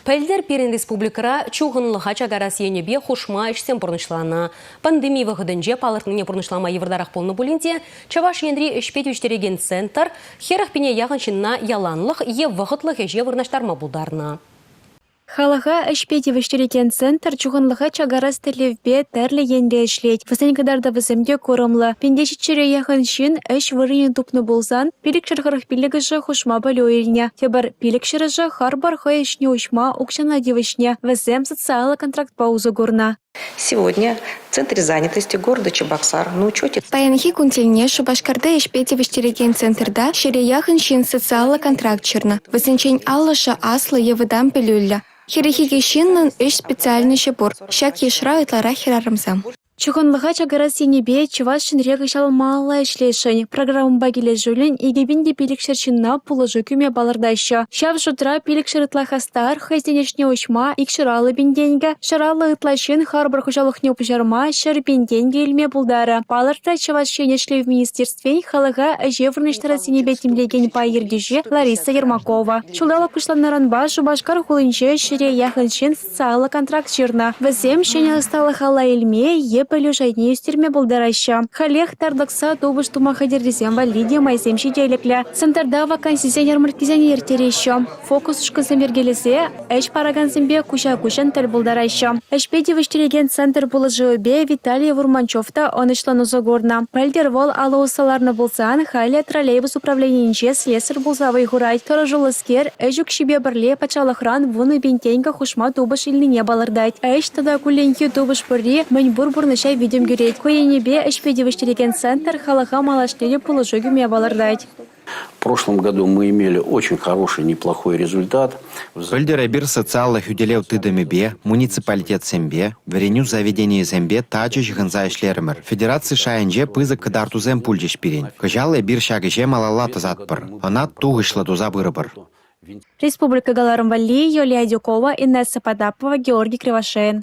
Пӗлтӗр пирӗн республикӑра чухӑнлӑха чакарас енӗпе хушма ӗҫсем пурнӑҫланӑ. Пандеми вӑхӑтӗнче палӑртнине пурнӑҫлама йывӑртарах пулнӑ пулин те Чӑваш Енри ӗҫпе тивӗҫтерекен центр хӗрӗх пине яхӑн ҫынна яланлӑх е вӑхӑтлӑх ӗҫе вырнаҫтарма пултарнӑ. Халӑха ӗҫпе тивӗҫтерекен центр чухӑнлӑха чакарас тӗллевпе тӗрлӗ енре ӗҫлет. Вӗсен кӑтартӑвӗсем те курӑмлӑ. Пиндешиччӗре яхӑн ҫын ӗҫ вырӑнӗ тупнӑ пулсан, пилӗкшер хӑрӑх пиллӗкӗшӗ хушма пӗлӳ илнӗ. Тепӗр Пилӗк-ҫӗрӗшӗ харпӑр хӑй ӗҫне уҫма укҫана тивӗҫнӗ, вӗсем социаллӑ контрактпа усӑ курнӑ. Сегодня в Центре занятости города Чебоксар на учете Паянхи кун тӗлне Шупашкарта ӗҫпе тивӗҫтерекен центрта ҫӗре яхӑн ҫын социаллӑ контракт ҫырнӑ. Вӗсенчен аллӑшӗ аслӑ е вӑтам пӗлӳллӗ. Хӗрӗххи ҫыннӑн ӗҫ специальноҫӗ пур. Ҫак йышра ытларах хӗрарӑмсем. Чухӑнлӑха чакарас енӗпе Чӑваш Енре кӑҫал малалла ӗҫлесшӗн. Программӑпа килӗшӳллӗн икӗ пин те пилӗкшер ҫынна пулӑшу кӳме палӑртаҫҫӗ. Ҫав шутра пилӗкшер ытла хастар хӑйсен ӗҫне уҫма икҫӗр аллӑ пин тенкӗ, ҫӗр аллӑ ытла ҫын харпӑр хуҫалӑхне пуҫарма ҫӗр пин тенкӗ илме пултарӗ, палӑртрӗ Чӑваш Ен Ӗҫлев министерствин халӑха ӗҫе вырнаҫтарас енӗпе тимлекен пай ертӳҫи Лариса Ермакова. Ҫулталӑк пуҫланнӑранпа Шупашкар хулинче ҫӗре яхӑн ҫын Сайлӑ контракт ҫырнӑ. Вӗсем ҫӗнӗ ӑсталӑхалла илме е пӗлӳ шайне ӳстерме пултараҫҫӗ. Халех тарлӑкса тупӑш тума хатӗррисем валли те майсем ҫителӗклӗ. Центрта вакансисен ярмарккисене ирттереҫҫӗ. Фокус-ушкӑнсем йӗркелесе ӗҫ паракансемпе куҫа-куҫӑн тӗл пултараҫҫӗ. Ӗҫпе тивӗҫтерекен центр пулӑшӑвӗпе Виталий Вурманчев та ӑнӑҫлӑн усӑ курнӑ. Пӗлтӗр вӑл алӑ усса ларнӑ пулсан, халӗ троллейбус управленийӗнче слесарь пулса вӑй хурать. Тӑрӑшуллӑскер Ӗҫ укҫипе пӗрле патшалӑхран вунӑ пин тенкӗ хушма тупӑш илнине палӑртать. Ӗҫ тата кулленхи тупӑш пурри мӗн пур пурнӑҫа витӗм кӳрет. Ку енӗпе ӗҫпе тивӗҫтерекен центр халӑха малашне пулӑшу кӳме палӑртать. В прошлом году мы имели очень хороший, неплохой результат. Пӗлтӗр эпир социаллӑ хӳтӗлев тытӑмӗпе, муниципалитетсемпе, вӗренӳ заведенийӗсемпе тачӑ ҫыхӑнса ӗҫлерӗмӗр. Федераци шайӗнче пысӑк кӑтартусем пулчӗҫ пирӗн. Кӑҫал эпир ҫак ӗҫе малалла тӑсатпӑр. ӑна тухӑҫлӑ туса пырӑпӑр. Республика кӑларӑм валли Юлия Дюкова, Инесса Потапова, Георгий Кривошеин.